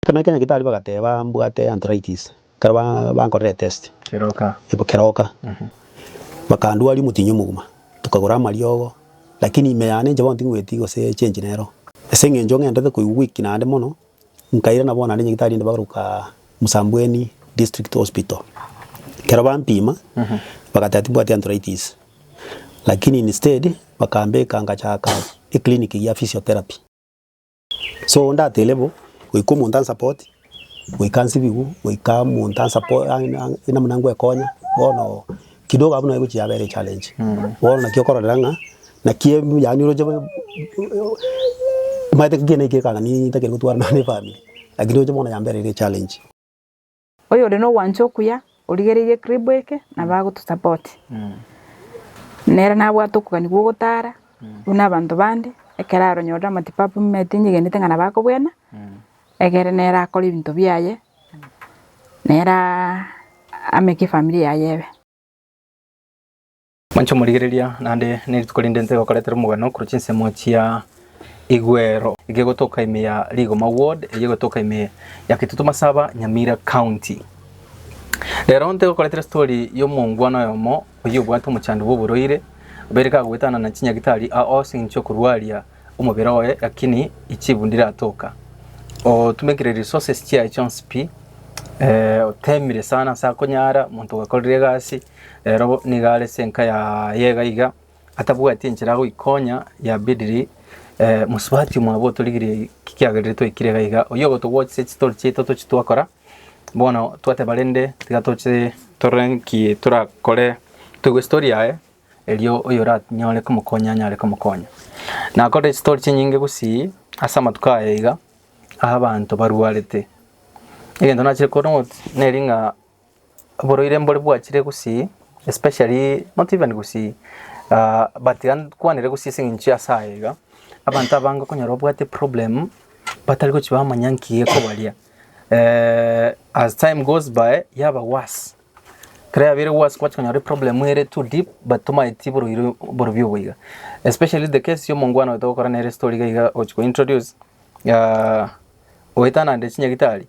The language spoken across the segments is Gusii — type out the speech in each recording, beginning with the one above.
Ekero na kera nyagitari bagateba mbwate arthritis, ekero ba bankorera etest, Keroka. eba keroka, bakandwaria omotinyi omogima, tokagora amariogo, lakini ime yane inche bono ting'weti gose change nero. Ase eng'encho ng'endete koigwa weak naende mono, nkairana bono naende nyagitari inde bagoka Msambweni District Hospital, ekero bampima, bagateba timbwati arthritis, lakini instead bakambeka ngachaka eclinic ya physiotherapy. So onde atere bo, goika omonto a support, goika nsibigwe, goika omonto a support namuna ngwekonya, bono kidogo abwo naye gochia yabera echallenge. Bono naki okororera ng'a, naki embwe yaani oroche buna omanyete ekiagera eke ekang'ani ntakeri gotwarana nefamiri, lakini oroche bono yamberire echallenge. Oyore nogwancha okuya origereirie ekribu eke nabo agoto support nere nabwate okogani gwa ogotara buna abanto bande ekero aronyorire amatibabu omanyete nyegenete ng'a nabo akobwena egere nere akore ebinto biaye nere ameke efamiri yaye ebe. Monche omorigereria, naende nerituko rinde nse egokoretera omogweno korwa chinsemo chia Igwero eke egotoka ime ya Rigoma Ward eye egotoka ime ya Kitutu Masaba Nyamira County. Rero ntegokoretera story ya omongwana oyomo oyio obwate omochando bwa oborwaire obeire kagoetana na chinyagitari aos eng'encho yokorwaria omobere oye lakini echibu ndiratoka. Otumekire resources chiaye chionsi pi, eh, otemire sana ase akonyara omonto ogakorire egasi, Rero nigo are senka ya yega iga, atabwati enchera agoikonya, yabidiri eh, mosubati omwabo otorigirie ki kiagerire twaikire iga iga, oyio ogotogwachise chitori chiaito tochi twakora, bono twateba rende tiga toche tore nki torakore toigwe estory yaye, erio oyoranyore komokonya anyare komokonya. Nakorire echitori chinyinge gusii ase amatuko aya iga, abanto barwarete, egento nachire korora ng'o neri ng'a. oborwaire mbore bwachire gusii especially not even gusii ah but iga nkwanere gusii ase eng'encho ase aya iga, abanto abange okonyora obwate eproblemu batari gochia bamanya nki gekobaria as time goes by yaba worse, ekero yabeire worse kwachia konyora eproblemu ere too deep but tomaeti borwaire obo borobio obo iga, especially the case ya omongwana oyo togokora nere estori iga iga ogochia ko introduce oetana nde chinyagitari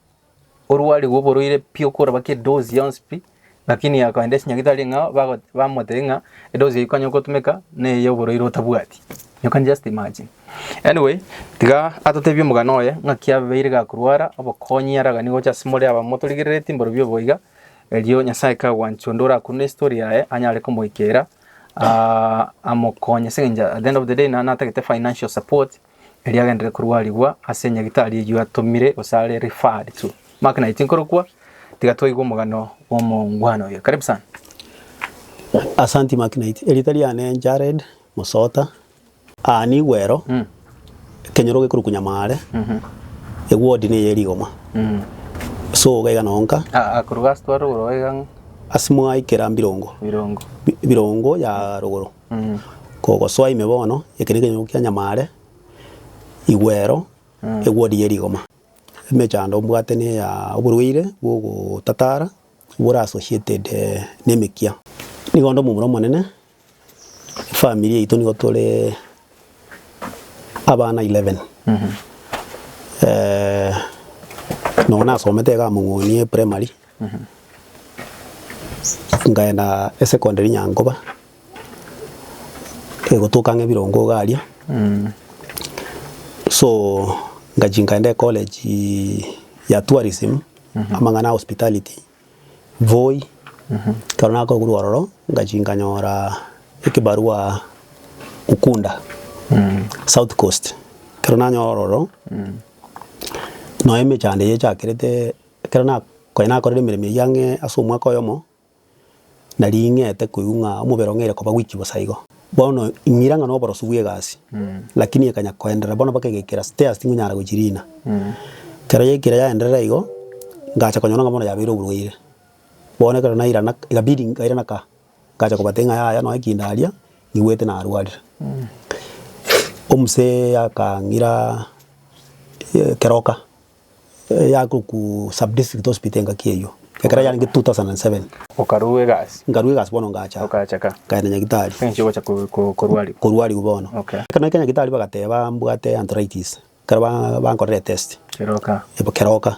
orwarigwe oborwaire pi okorobaki edozi yonsi pi, lakini akaenda esnyagitari ng'a bago bamotebia ng'a edozi eye konya gotumeka na eye yoborwaire otabwati. You can just imagine. Anyway, tiga atotebie omogano oye ng'a ki abeire gakorwara, obokonyi araganie gocha ase more aba motorigereretie mborobio obo iga, erio Nyasae kagwancha onde orakure na estory yaye anyare komoikera amokonye ase eng'encho at the end of the day naye natagete financial support erio agenderere korwarigwa ase enyagitari eyio atomire gose are referred to. Mark 19 korokwa, tiga toigwe omogano bw'omongwana oyo. Karibu sana. Asanti Mark Knight. Erita riane Jared Musota. Aa nigo ero. Mm. Ekenyoro gekorokwa Nyamaare. Mhm. Eward niyo ya Rigoma. Mm. So iga iga noo nka. Ah, ah, koruga ase twarogoro iga ng'a Ase mwaikera Mbirongo. Birongo. Bi- Birongo ya rogoro. Kogosoa ime bono, eke nekenyunyunku kia nyamare, igwero, egwodi ye rigoma. Emechando ombwate neya oborwaire bwa ogotatara bore associated nemekia. Nigo onde omomura omonene, efamiri yaito nigo tore abana eleven. Nonya nasomete iga Among'onie primary. Nkaenda esecondary Nyankoba, egotoka ng'a ebirongo iga aria, so ngachia nkaenda ecollege ya tourism, amang'ana ya hospitality, Voi, ekero nakorwa ororo ngachia nkanyora ekebarwa Ukunda, South Coast, ekero nanyora ororo, nonye emechando eyi echakerete. Ekero nakonya nakorire emeremo eyio ang'e ase omwaka oyomo, naria ing'ete koigwa ng'a omobere ong'eire koba gwiki bosa igo. Bono ing'ira ng'a noborosu bw'egasi, lakini ekanya koenderera bono mpaka egekira state ase tingonyara gochiriina. Ekero yaikire yaenderera igo, ngacha konyora ng'a bono yabeire oborwaire. Bono ekero nairana ikabidi nkairana ka, ngacha kobatebi ng'a yaya nonye ki ndaria, nigwete narwarire. Omosee akang'ira keroka. Yago ku sub district hospital engaki eyio ekero yarenge 2007. Okarua egasi. Nkarua egasi bono ngacha. Okacha ka. Nkagenda nyagitari. Engaki ogocha korwariwa. Korwariwa bono. Okay. Ekero naika nyagitari bagateba mbwate arthritis. Ekero bankorera etest. Kera oka. Ebo kera oka.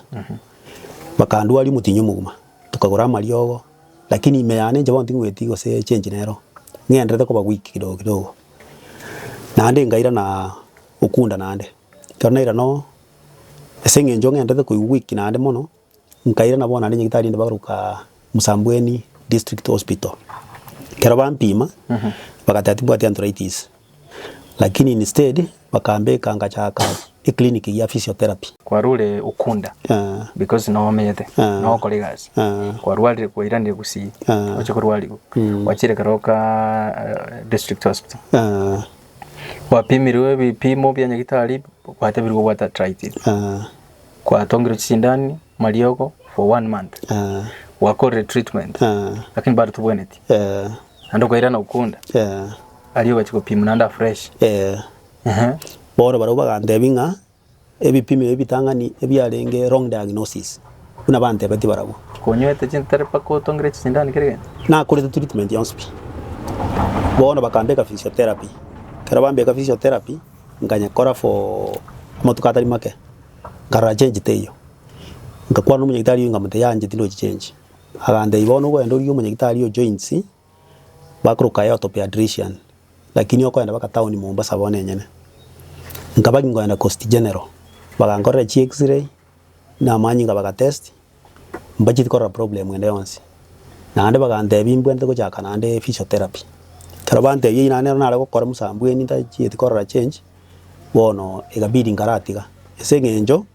Bakandwaria omotinyo mogima. Tokagora amariogo. Lakini ime yane inche bono tingweti gose change nero. Ng'enderete koba weak kidogo kidogo. Naende nkairana okunda naende. Ekero nairana oo. Ase eng'encho ng'entete koigwa goikina aande mono, nkairana bono aande nyagetari inde bagaruka Msambweni District Hospital. Ekero bampima, bagateba tibwati arthritis, lakini instead bakambeka ngachaka eclinic ya physiotherapy. Kwarure Ukunda Eh, because noo omenyete, Ah. noo okora egasi. Ah. Kwarwarire kwairanire Gusii, Ah. oche korwarigwa. Gwachire keroka eh, District Hospital. eh, Gwapimirwe ebipimo bia nyagitari gwatebirwe gobwata arthritis. Eeh. Gwatongirwe chisindani mariogo for one month. Eeh. Gwakorire treatment. Eeh. Lakini bado tobweneti. Eeh. Naende okairana okunda. Eeh. Aria ogachia gopimwa naende afresh. Eeh. Ehe. Bono barabwo bagantebia ng'a Ebipimo ebi bitang'ani ebiarenge wrong diagnosis, buna bantebetie barabwo. Konywete chinto tari mpaka otongire chisindani kera egento. Nakorete treatment yonsi pi. Bono bakambeka physiotherapy. Ekero bambeka physiotherapy, nkanyekora for amatuko atari make, nkarora change teiyo. Nkakwana na omonyagitari oyo nkamotebia, yaanche tindochi change. Agantebia bono ogende origie omonyagitari o joints. bakoroka Yoto Peadrician, lakini okoenda baka taoni Mombasa bono enyene. Nkaba nkoenda Coast General, bagankorera chi X-ray na amanyinga baga test, mbacheti korora problem ende yonsi. Naende bagantebia mbwentete gochaka naende physiotherapy. Ekero bantebia eyio naende nero nare gokora mosambweni ntachieti korora change, bono ekabidi nkaratiga. Ase eng'encho.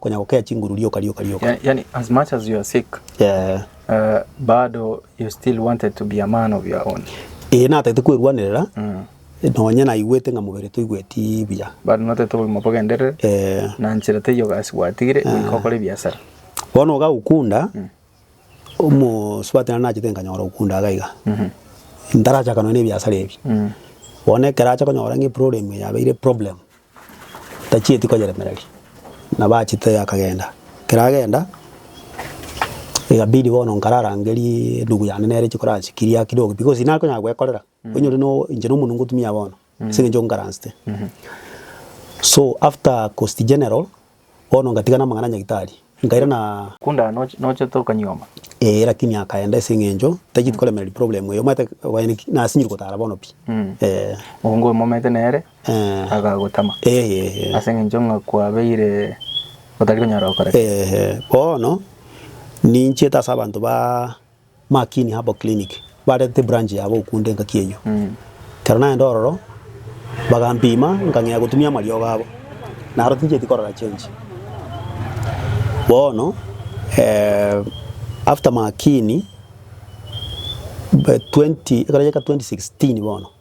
konya gokea chinguru rioka rioka rioka. Yeah, yani as much as you are sick Eh, uh, bado you still wanted to be a man of your own ee natete kwerwanerera mm. nonye naigwete ng'a mobere toigweti buya bado notete obogima bogenderere Eh, na nchera teiyo gasi gwatigire goika okore ebiasara bono iga gokunda omosubati nari nachete nkanyora okunda iga iga ntarachaka nonya na ebiasara ebi bono ekero acha konyora ng'a eproblem yabeire problem Tachieti koyeremereria, na bachete akagenda. Ekero agenda, egabidi bono nkararangerie enugu yane nere chikoransi kiria kidogo pi, gose inare konya gwekorera, onyore no inche no omonwe ngotumia bono, ase eng'encho nkaransete. So after cost general. Bono ngatiga namang'ana a nyagitari, nkaira na. Kunda nochete okanyuoma? Ee, lakini akaenda ase eng'encho tacheti koremerwa ri problem eye. Omanyete abanyene ki? Nasinyire gotara bono pi. Ee. Mongo oyo momete nere Ee. agagotama Ee, ee. ase eng'encho ng'a kwabeire otari konyara gokora ki. Ee, ee. Bono ninchiete ase abanto ba. Makini Herbal Clinic barete ebranch yabo okwo nde engaki eyio. Ekero naenda ororo bagampima nkang'ea gotumia amariogo abo. Naro tinchieti korora change. Bono after Makini ekero yaika 2016 bono.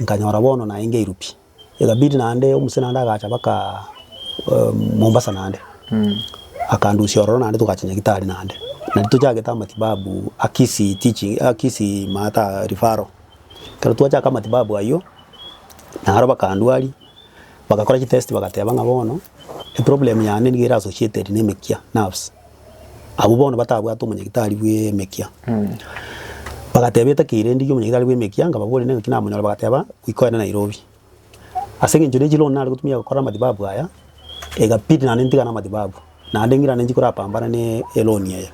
Nkanyora bono naye ngeiru pi. Egabidi naende omusena onde agacha baka Mombasa naende. Akandusia ororo naende togacha Nyagitari naende. Nario tochagete amatibabu a Kisii teaching a Kisii maata referral. Ekero twachaka amatibabu ayio, naro bakandwaria, bagakora chitest bagateba ng'a bono eproblem yane nigo ere associated na emekia, nerves. Abwo bono batabwate omonyagitari bw'emekia, bagateba etaki eye rende y'omonyagitari bw'emekia, nkababoria nengaki namonyore, bagateba goika ogende Nairobi. Ase eng'encho ne chiloan nare gotumia gokora amatibabu aya, egabidi naende ntigane amatibabu, naende ng'ira naende nchikorapambane ne eloan eye.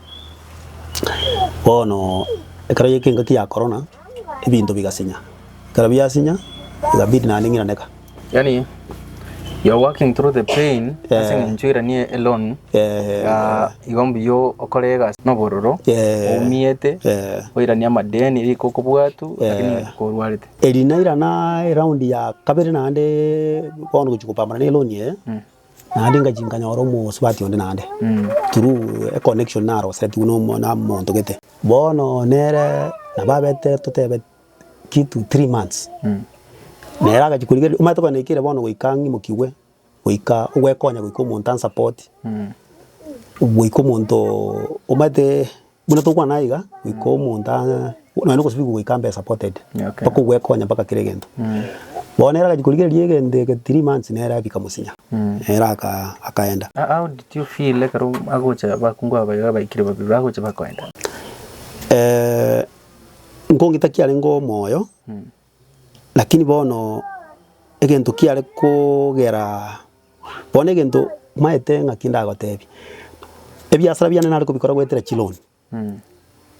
Bono ekero yaika engaki ya korona. ebinto bigasinya. Ekero biasinya, ikabidi naende ng'iraneka. Yaani you are working through the pain ase eng'encho iranie eloan iga igo mbuya okore egasi na obororo oumete oiranie amadeni rika okobwatu lakini rika orwarete. Eri nairana eraundi ya kabere naende bono gochia kopambana na eloan eye. Naende ingachia nkanyora omosubati onde naende through a connection naroseretigwe nomo namonto gete. Bono nere nabo abete totebe kitu three months, nere agachia korigereria omanyete tokonyora naki ere bono goika ng'imokigwe, goika ogwekonya goika omonto ansupport, goika omonto omanyete. Buna tokwana aiga, goika omonto aa nonya na ogosibigwa goika ambe supported, mpaka ogwekonya mpaka kera egento. Bono nere agachia korigereria egento eke three months nere abika mosinya, nere aka akaenda. How did you feel ekero agocha abakungu aba baiga abaikire babere bagocha bakoenda? Nkong'ita kiarenge omoyo. Lakini bono egento kiare kogera, bono egento maete ng'aki ndagotebie, ebiasara biane nare kobikora goetera chiloni,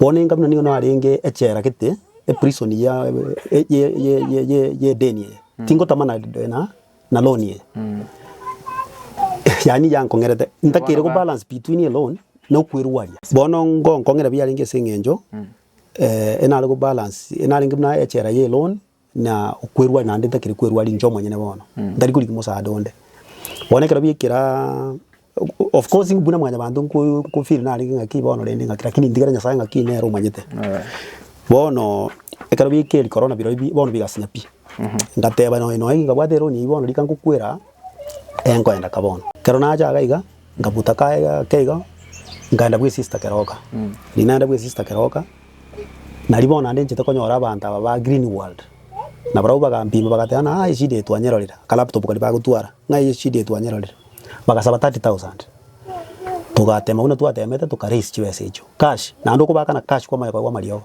bono enga buna nigo narenge echela gete, eprison ya ye- ye- ye- ye- ye- yedeni eye, tingotama na de- na na loan eye. Yaani yankong'erete ntakeireku balance between eloni na okwerwaria. Bono ngonkong'era biarenge ase eng'encho enare kobalance, enarenge buna echela ye loan na okwerwa naende ntakiri kwerwa ninche omonyene bono, ntari korigia omosaada onde. Bono ekero biekera, of course buna mwanyabanto nko nko feel narenge ng'aki bono rende ng'aki lakini ntigere Nyasae ng'aki nere omanyete. Bono ekero biekeri korona birobia bono bigasinya pi, ngateba nonya nonya ngabwate eloni eyio bono rika ngokwera. enkoenda ka bono. Kero nacha iga iga nkabuta kaye gake igo nkaenda bwe sister keroka riria naenda bwe sister keroka nari bono naende nchete konyora abanto aba ba green world na barabwo bagampima bagateba ng'a aa eshida eye twanyerorire aka laptop karia bagotwara ng'a eye eshida eye twanyerorire bagasaba thirty thousand togatema buna twatemete toka raise chibesa echio cash naende okobakana cash kwa omoyoka bwa amariogo.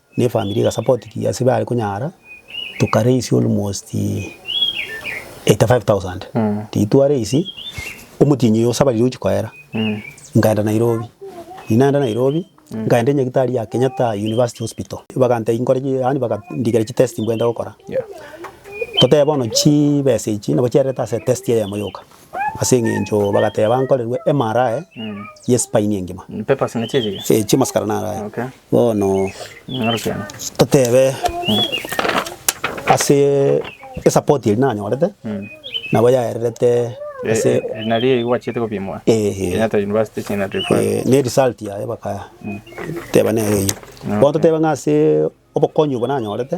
Ne family ega support ki ase bare konyara, toka raise almost eighty five thousand, riria twa raise omotienyi oyo osa bariri ogochia koera, nkaenda Nairobi, riria naenda Nairobi, nkaenda enyagitari ya Kenyatta University Hospital, bagantebia nkore ki yaani bagandikera chi test mbwate gokora, totebe bono chibesa echi nabo chiarerete ase test eyemo yoka, ase eng'encho bagateba nkorerwe MRI ye spine engima, Papers nachiaga iga? eh chiamasikara naro aya. Bono toteebe ase esapoti eria nanyorete nabo yaererete ase ne result yaye bakateba nere eyio. Bono toteebe ng'a ase obokonyi obwo nanyorete.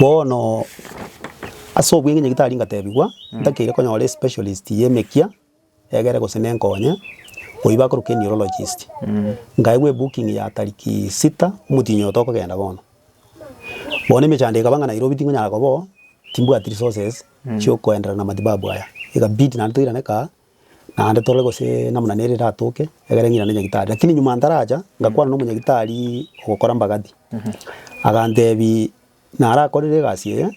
Bono ase obweng'e onye tari ngatebigwa, ntakeire konyora especialist ye emekia egere gose nenkonye, oyio bakoroka eneurologist. Nkaegwa ebooking ya tariki sita omotienyi oyo tokogenda bono. Bono emechando ekaba ng'a Nairobi tingonyara koba oo, timbwati resources chiokoenderana na matibabu aya. Ekabidi naende toirane kaa. Naende torore gose namuna nere eratoke, egere ng'ina ne nyagitari. Lakini nyuma ntaracha, ngakwana nomonyagitari ogokora mbagathi, agantebi narakorire egasi eye,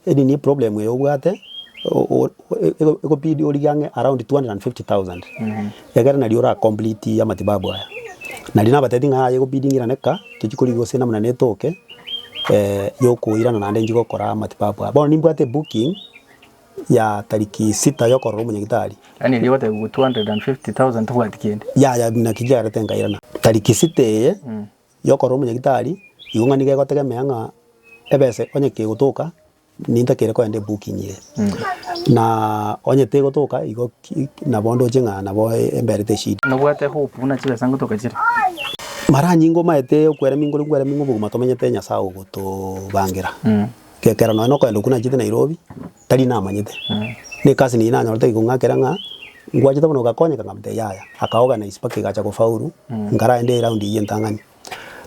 eri niyo eproblem eye obwate, o- o- e- e- egobidi origie ang'e around two hundred and fifty thousand, egere naria ora complete amatibabu aya. Naria nabatebi ng'a aye egobidi ng'irane ka, tochi korigia gose namuna netoke yokoirana naende nchi gokora amatibabu aya. Bono nimbwate ebooking. ya tariki sita y'okorora omonyagitari. Yaani erio ogoteba igwa 250,000 tobwati kende. Yaya buna ki chiagerete nkairana. Tariki sita eye y'okorora omonyagitari, igo ng'a nigo egotegemea ng'a ebesa onye kegotoka ninta kere kogenda ebooking eye. Na onye tegotoka igo ki nabo ndoche ng'a nabo embere teshida. Nobwate hope buna chibesa ngotoka chire? Mara nyinga omaete okwera mingo ore nkwera mingo obogima tomenyete Nyasaye ogotobangera. Gekera nonya nokogenda okwo nachete Nairobi tari namanyete. Nekasi neyio nanyorete egikong'akera ng'a ngwachete bono ogakonyeka nkamotebia yaya aka organise mpaka egacha kofaulu nkarende eround eyio entang'ani.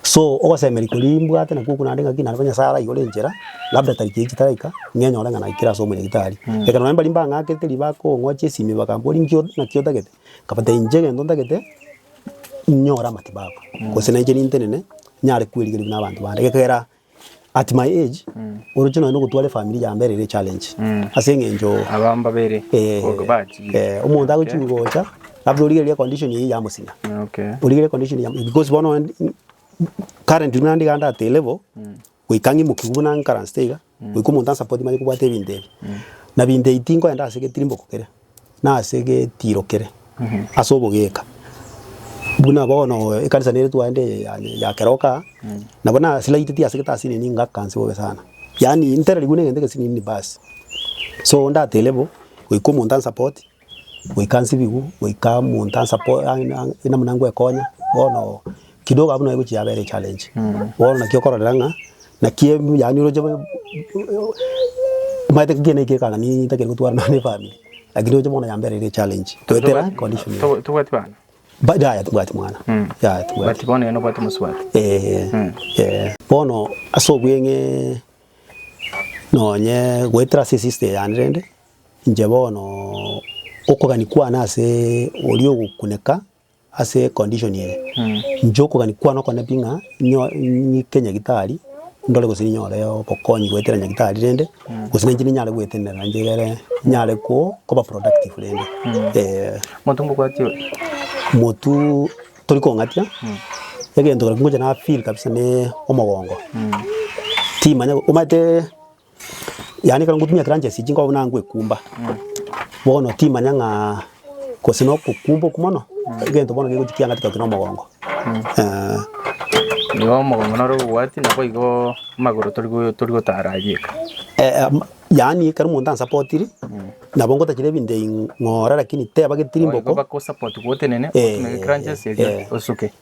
So ogosemeri koria imbwate nakwo okwo naende ng'aki naende bono Nyasaye araigore enchera labda tariki eyio chitarika ng'enyore ng'a naikire ase omonyagitari. Gekera nonya mbaria mbang'akete ribaga kong'ochia esimi bakambora inkio naki otagete nkabatebia inche egento ntagete inyore amatibabu gose nainche nintenene nyare kwerigereria buna abanto bande gekera. At my age oroche nonya nogotwara efamiri ya mbere ere challenge ase eng'encho Aba mbabere eh, ogo bachire. eh, omonto Okay. agochia gocha labda origereria condition eye yamosinya Okay. origereria condition ya because bono n- n- currently buna ndiga at a level goika ng'imokigu buna nkaransete iga goika omonto ansupport manye kobwate ebinto ebi na binto ebi tinkoenda ase getirimboko kere na ase getiirokere ase obogeeka, buna bono ekanisa nere twaende eye ya ya keroka, nabo nasiraiteti ase getasini ninga akanse bobe sana. Yaani ntererigwe na egento egesini nini basi. So ndatebe bo, goika omonto an support, goika nsibigwe, goika omonto an support namuna ngoekonya bono. Kidogo abwo naye gochia yabera echallenge. Bono naki okororera ng'a naki em- yaani oroche bo- bo- omanyete ng'a ekiagera ekio ekanga ni- ntakeri gotwara nonya na efamiri, lakini roche bono yamberire echallenge goetera condition eye. Togo- Tobwati bana? Ba- yaya timbwati mwana, Mm. yaya But timbwati. bono yaani obwate omosubati. Eh, Mm. eh. Bono ase obweng'ee nonye goetera ase esiste yane rende, inche bono okogani kwane asee oria ogokuneka. Ase econdition eye, inche okogania kwane oko nabi ng'a nyo ng'ike nyagitari ndore gose ninyore obokonyi goetera nyagitari rende, gose nainche ninyare goetenena inche egere nyare ko koba productive rende eeh. Monto mbobwati ore? Motu tori kong'atia, egento ekero ngocha na feel kabisa ne omogongo, timanya omanyete. Yaani ekero ngotumia etransgesi echi nkobuna ngoekumba, bono timanya ng'aa gose na okokumba okwo mono, egento bono kegochia kiang'ati goteba omogongo eeh. Igo omogongo noro obobwati nabo igoo amagoro tori go tori gotara aria eka. Yaani ekero omonto ansapotiri, nabo ngotachera ebinto ebi ng'ora lakini teba getirimbogo. Igo bakosapotiwa otenene, otume etransgesi eria osuke.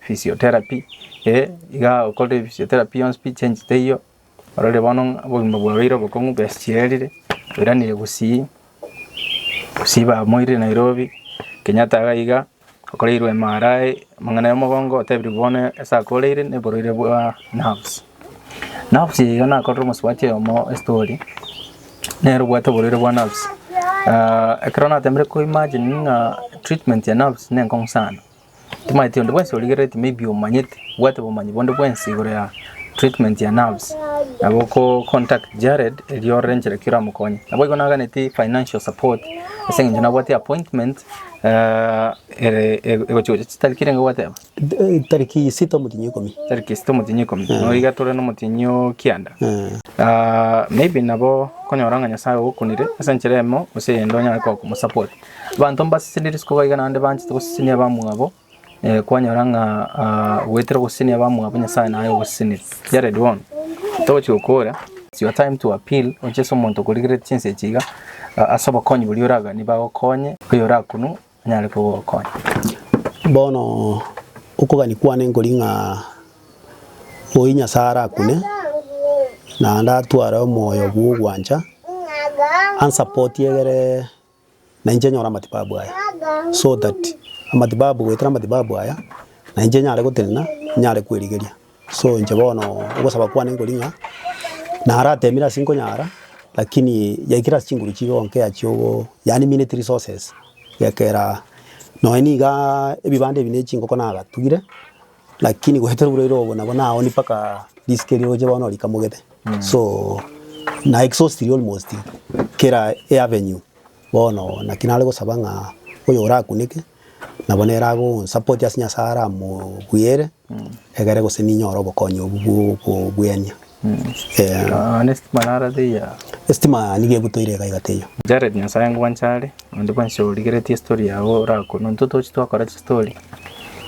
Physiotherapy, Ee, iga okorire physiotherapy yonsi, pi change teiyo, ororire bono ng'a obogima bwaye oire obokong'u bwesichengerire, oiranire gusii, gusii bamoirire Nairobi, Kenyatta iga iga, okoreirwe MRI, amang'ana ya omogongo, otebirwe bono ase ake oreire na oborwaire bwa nerves. Nerves eye iga nakorire omosubati oyomo estori, nere obwate oborwaire bwa nerves, ekero natemire ko imagine ng'a treatment ya nerves nenkong'u sana. Timaeti onde bwensi origerereti maybe omanyete obwate obomanyi bonde bwensi igoro ya treatment ya nerves nabo oko contact Jared erio orore enchera ki oramokonye. Naboigo naganeti financial support ase eng'encho nabwate appointment eh, ere ego- egochi gocha chitariki renge gwateba Eh, Tariki isita omotienyi ikomi. tariki esita omotienyi ikomi nabo iga tore nomotienyi o kianda Eh, Ah, maybe nabo konyora ng'a nyasae ogokunire ase enchera emo gose eyende onyare gokomosupport Abanto mbasesenirie isiko gaiga naende banchete gosesenia abamwabo, kwanyora ng'a goetera ogosesenia abamwabo Nyasae naye ogosesenire. Jared Wong, Togochia gokora, it's your time to appeal, oche ase omonto okorigereti chinsa echi iga, ase obokonyi boria oraganie bagokonye, oyorakunwe anyare kogokonya. Bono okogania kwane nkori ng'a oyio Nyasae arakune naende atware omoyo bw'ogwancha, ansapotie egere. na inche nyore amatibabu aya, so that amatibabu goetera amatibabu aya na inche nyare gotenena, nyare kwerigeria. So inche bono ogosaba kwane nkori ng'a naratemire ase nkonyara lakini yaikire ase chinguru chigo nkea chiogo yaani minute resources, egekera nonye niga ebibanda ebi ne chingoko nagatugire. Lakini goetera oboraire obo nabo nao ni mpaka risike riroche bono rikamogete so na exhausted almost kera e avenue bono naki nare gosaba ng'a oyo orakuneke nabo nere agonsupport ase Nyasaye aramogwere egere gose ninyore obokonyi obwo bwo okobuenia. Eh, Ah, nesitima nara teiyo. esitima nigo egutoire iga iga teiyo. Jared nyasae ngwanche are onde bwensi origeretie story yago orakunu intwe tochi twakora chistory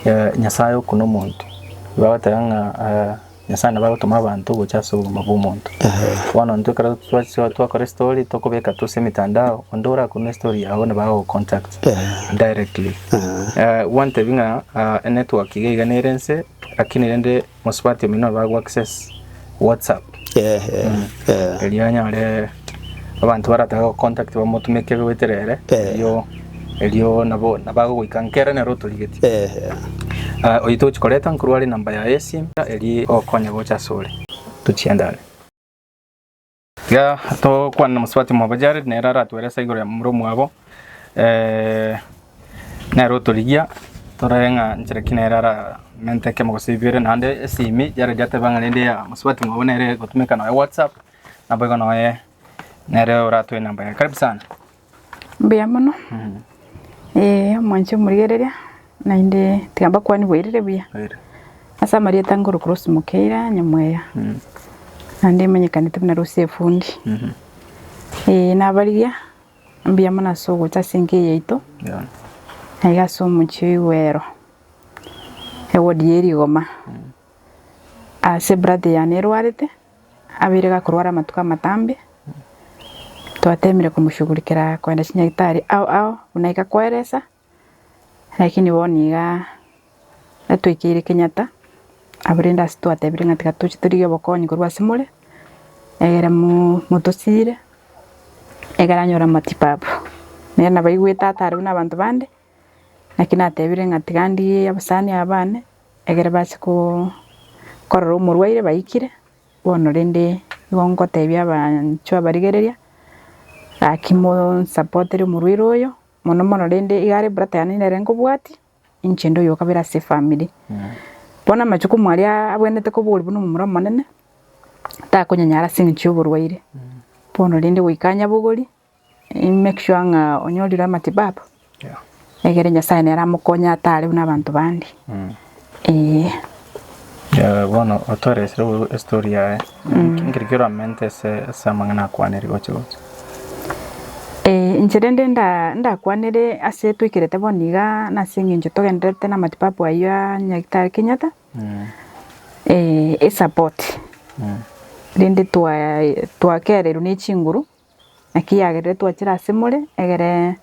eh, nyasae oku nomonto igo agoteba ng'a eh, nyasae nabo agotoma abanto gocha ase obogima bwomonto bono intwe ekero twa- twakora estory tokobeka tu ase emetandao onde orakunwa estory yago nabo agogocontact directly Eh, gwantebia ng'a ah, enetwork iga iga nere nse lakini rende. Mosubati omino abago access WhatsApp. Eh eh eh. Erio anyore abanto barataka go contact bamotume kebe goetera ere. Eh. Erio erio nabo nabago goika nkere nero otorigeti. Eh eh. Ah, oyo tochi koreta nkorwa are number yaye esim eri okonya gocha asore. Tochiendane. Iga togokwana na mosubati mwabo Jared, nere aratuelese igoro ya momura omwabo, eh, nere otorigia torore ng'a nchera ki nere aramente ekemo gose bibere. Naende esimi Jared ateba ng'a rende ya mosubati mwabo nere egotumeka nonya whatsapp, naboigo noye nere oratoe enamba yaye. Karibu sana. Mbuya mono, ee omonche omorigereria, naende tiga mbakwanie bwairire buya. Ase amarieta ngoroku Rose Mukeira Nyamweya, naende emenyekanete buna Rose Efundi. Ee nabarigia, mbuya mono ase ogocha ase enka eye yaito, na iga ase omochie o Igwero, ewodi ya Erigoma, ase ebrathe yane erwarete. Abeire gakorwara amatuko amatambe, twateemire komoshugurikera koenda chinyagitari ao ao buna igakoeresa, lakini bono iga atwekeire Kenyatta abwo rende ase twatebirie ng'a tiga tochi torigie obokonyi korwa ase more, egere mo- motosiire egere anyore amatibabu. Nere nabaigwete atare buna abanto bande. Naki natebire ng'a tiga ndie abasani aba bane, egere bache korora omorwaire baikire, bono rende nigo ngotebia abanchwo abarigereria, gaki monsapotere omorwaire oyo, mono mono rende igare eburata yane nere nkobwatia, ninche nde oyokabera ase efamiri. Bono amachukumu aria abwenerete koba ore buna omomura omonene, takonyanyara ase eng'encho y'oborwaire, bono rende goika nyabogorie, make sure ng'a onyorire amatibabu egere Nyasaye nere amokonye atare buna abanto bande. Eeh. Eh, bono otore ase o- estory yaye nkeri kero amente ase ase amang'ana akwaneri gocha gocha Eh, inche rende nda- ndakwanire ase twaikerete bono iga nase eng'encho togendererete na amatibabu ayio a nyagetari Kenyatta, Mm, eh, esapoti mm, rende twa- twakererwa ne chinguru Naki yagerire twachire ase more, egere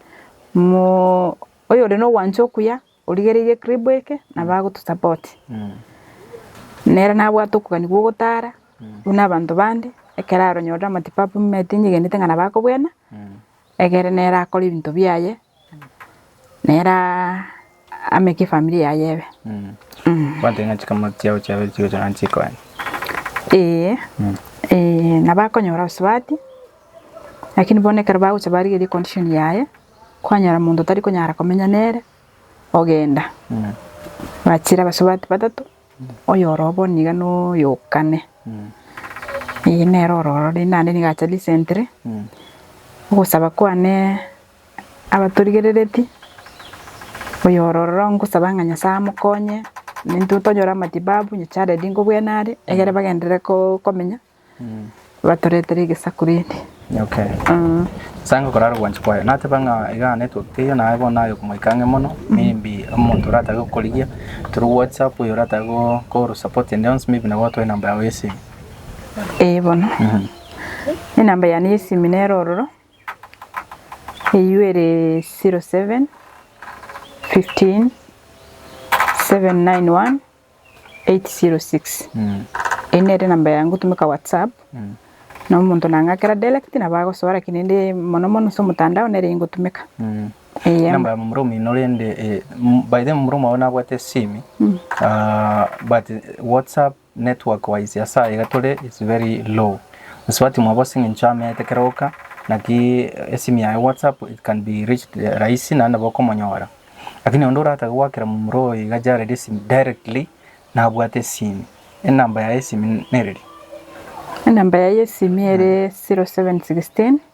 mo oyore na ogwancha okuya origereirie ekribu eke nabo agotosupport. Nere nabwate okogania gwa ogotara buna abanto bande, ekero aronyorire amatibabu mimeti nigenete ng'a nabo akobwena, egere nere akore ebinto biaye. Nere ame kefamiri yaye ebe. Kwantaiga ng'a chikamati chiabo chiabe chigocha gani chikonya. Ee nabakonyora obosubati lakini bono ekero bagocha barigerie condition yaye kwanyora monto otari konyara komenya nere ogenda. Bachire abasubati batato oyore obo niga noyo kane. Ee nere ore ororo rende naende niga acha recently ogosaba kwane. abatorigereretie, oyore ororo ngosaba ng'a Nyasaye amokonye, intwe tonyore amatibabu onye child ingo bwene are, egere bagenderere ko- komenya, batoretere egesaku rende. Okay. Eeh. Nyasae ngokorara ogwancha kwaye. Nateba ng'a egana network teiyo naye bono aye okomoika ang'e mono, maybe omonto oratabe gokorigia through whatsapp oyo oratabe go- koro support ende yonsi maybe nabo atwae enamba yago y'esimu. Eeh bono. Enamba yane y'esimi nere ororo. Eyio ere 0715791806 Eyio nere enamba yaye ngotumeka whatsapp na omonto nang'akera direct nabo agosoa lakini ende mono mono ase omotandao nere eyio ngotumeka eeh. Number ya momura omino rende by the way momura omwabo nabwate esimi but whatsapp Network wise asa iga tore is very low gose batimwa bosi ng'encho ameete kera oka naki esimi yaye whatsapp it can be reached rahisi naende nabo okomonyora lakini onde oratake goakera momura oyo iga jareri esimi directly nabwate esimi enamba yaye esimi nereri. Enamba yaye esimi ere 0716.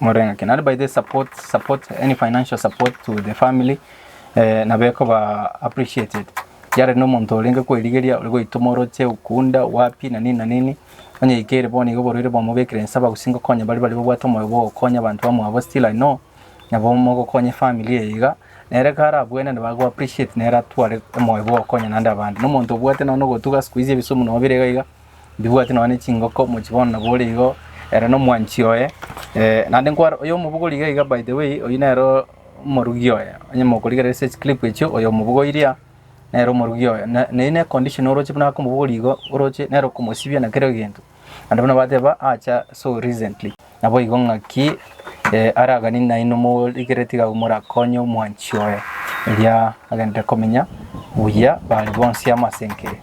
Morenga ki? Naende by the support, support, any financial support to the family eh, nabo ekoba appreciated. Yare na omonto orenge kwerigeria, ore goitoma oroche, okunda, wapi, na nini na nini. Onye ikere bono igo oborwaire bwamobekire nse abagusii ngokonya baria baria babwate omoyo bwa ogokonya abanto bamwabo still I know nabo mogokonya efamily eye iga. Nere ekero arabue naende bago appreciate nere atware omoyo bwa ogokonya naende abande. Na omonto obwate nonya na ogotuga, siku hizi ebisumu nobire iga iga, Ndibwati nonya ne chingoko, mochi bono nabo ore igo, ere na omwanchi oye. Eh, naende nkware oyo omobogori iga iga by the way, oyio nere omorugi oye. Onye mokorigereria ase chiclip echio, oyo omobogori iria, nere omorugi oye. Na na eyio ne condition oroche buna ake omobogori igo, oroche nere okomosibia na kera egento. Naende buna bateba, acha so recently. Naboigo ng'aki eh aragani nainwe morigeretie iga abwo morakonye omwanchi oye, erio agenderere komenya buya baria bonsi amo as'enke eye.